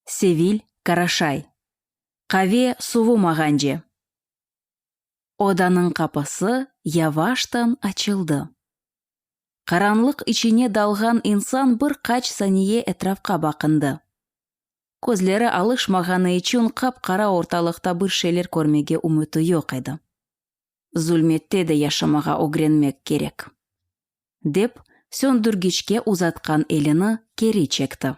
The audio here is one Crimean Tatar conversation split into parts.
Sevil, Qaraşay. Qave suvu mağance. Odanıñ qapısı yavaştan açıldı. Qaranlıq içine dalğan insan bir qaç saniye etrafqa baqındı. Közleri alışmağanı içün qap-qara ortalıqta bir şeyler körmege ümüti yoq edi. zulmette de yaşamağa ögrenmek kerek, dep, söndürgiçke uzatqan elini keri çekti.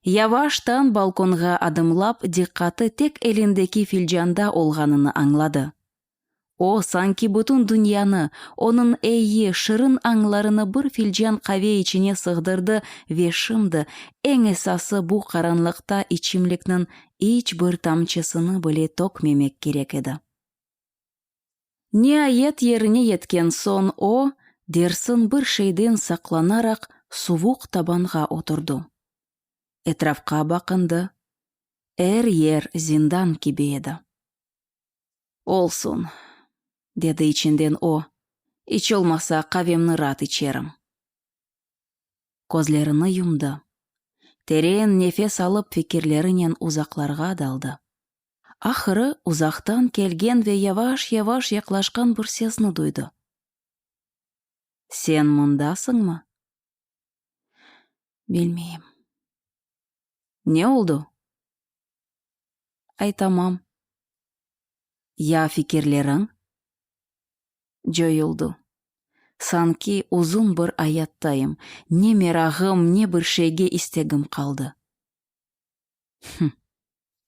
Yavaştan balkonğa adımlap, diqqatı tek elindeki filcanda olğanını añladı. O, sanki bütün dünyanı, onıñ eyi, şirin añlarını bir filcan qave içine sığdırdı ve şimdi, eñ esası, bu qaranlıqta içimlikniñ iç bir tamçısını bile tökmemek kerek edi. Niayet yerine yetken soñ o, dersin bir şeyden saqlanaraq suvuq tabanğa oturdı. Etrafqa baqındı, er yer zindan kibi edi. Olsun, dedi içinden o, iç olmasa qavemni raat içerim. Közlerini yumdı. Teren nefes alıp fikirlerinen uzaqlarğa daldı. Ahırı, uzaqtan kelgen ve yavaş-yavaş yaqlaşqan bir sesni duydı. Sen mındasıñmı? Bilmeyim. Ne oldu? Aytamam. Ya fikirleriñ? Coyuldı. Sanki uzun bir ayattayım, ne merağım, ne bir şeyge istegim qaldı. Hım.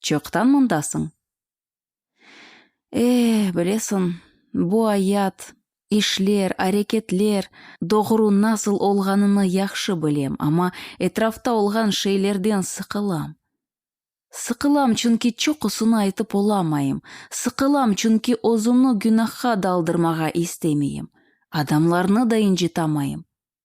Çoqtan mındasıñ? E, bilesiñ, bu ayat, işler, areketler, doğru nasıl olğanını yahşı bilem, amma etrafta olğan şeylerden sıqılam. Sıqılam, çünki çoqusını aytıp olamayım, sıqılam, çünki özümni günahqa daldırmağa istemeyim, adamlarnı da incitamayım.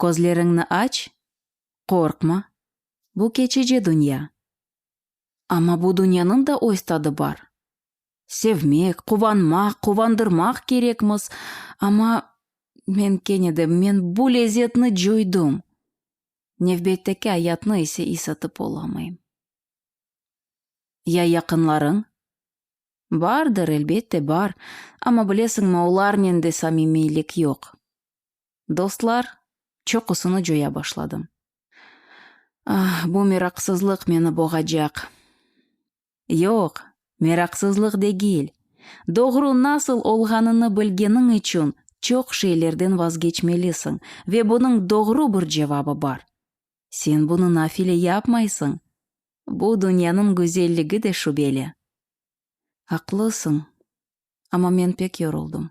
Közleriñni aç, qorqma, bu keçici dünya. Amma bu dünyanıñ da öz tadı bar. Sevmek, quvanmaq, quvandırmaq kerekmiz, amma, men kene de, men bu lezetni coydım, nevbetteki ayatnı ise isatıp olamayım. Ya yaqınlarıñ? Bardır, elbette, bar, amma, bilesiñmi, olarnen de samimiylik yoq. dostlar, çoqusını coya başladım. Ah, bu meraqsızlıq meni boğacaq. Yoq, meraqsızlıq degil, doğru nasıl olğanını bilgeniñ içün çoq şeylerden vazgeçmelisiñ ve bunıñ doğru bir cevabı bar. Sen bunı nafile yapmaysıñ, bu dünyanıñ güzelligi de şübeli. Aqlısıñ, amma men pek yoruldım.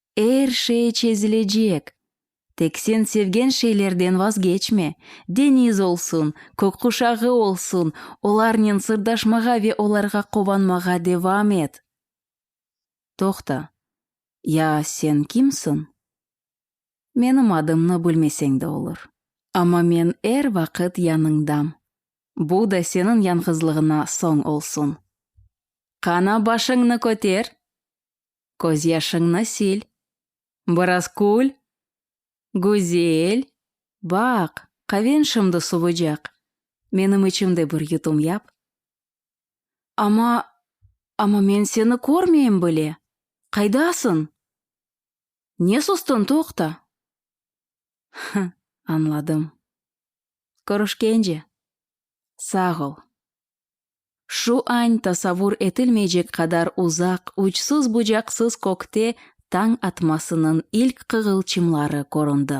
Er şey çezilecek. Tek sen sevgen şeylerden vazgeçme. Deniz olsun, kökquşağı olsun, olarnen sırdaşmağa ve olarğa quvanmağa devam et. Toqta, ya sen kimsiñ? Menim adımnı bilmeseñ de olur. Amma men er vaqıt yanıñdam. Bu da seniñ yañğızlığına soñ olsun. Qana başıñnı köter! Közyaşıñnı sil. Biraz kül. Güzel. Baq, qaven şimdi suvıcaq. Menim içim de bir yutum yap. Amma, amma men seni körmeyim bile. Qaydasıñ? Ne sustıñ, toqta! Hı, añladım. Körüşkence. Sağ ol. Şu añ tasavur etilmeycek qadar uzaq, uçsız-bucaqsız kökte tañ atmasınıñ ilk qığılçımları köründi.